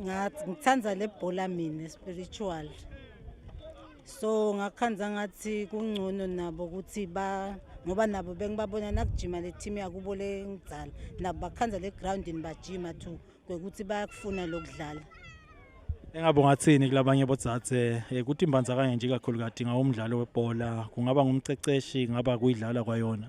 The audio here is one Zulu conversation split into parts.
ngathi ngithanda le bhola mina spiritual so ngakhanza ngathi kungcono nabo ukuthi ba ngoba nabo bengibabona nakujima le team yakubo le ngidala nabo bakhanza le groundini bajima to kwekuthi bayakufuna lokudlala engabe ungathini kulabanye bodzadze eh, ukuthi imbandzakanye nje kakhulu kade ngawumdlalo webhola kungaba ngumceceshi ngaba kuyidlala kwayona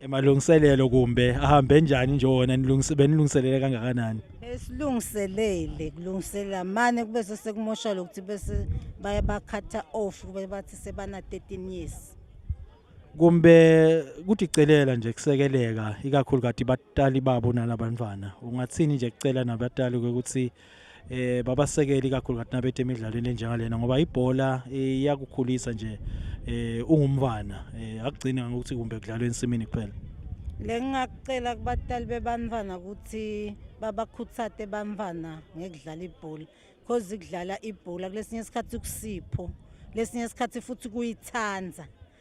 emalungiselelo kumbe ahambe njani nje wona benilungiselele kangakanani esilungiselele kulungiselela mane kube sesekumosha lokuthi bese baye bakhatha off kube bathi sebana 13 years kumbe kuthi celela nje kusekeleka ikakhulu kati batali babo nalabantwana ungathini nje kucela nabatali ukuthi eh babasekeli kakhulu ngathi nabethe emidlalweni enjengalena ngoba ibhola eh, iyakukhulisa nje eh ungumfana eh akugcini ngokuthi kumbe kudlalwe ensimini kuphela lengingakucela kubatali bebantwana ukuthi babakhuthate bantwana ngekudlala ibhola because kudlala ibhola kulesinye isikhathi kusipho lesinye isikhathi futhi kuyithanda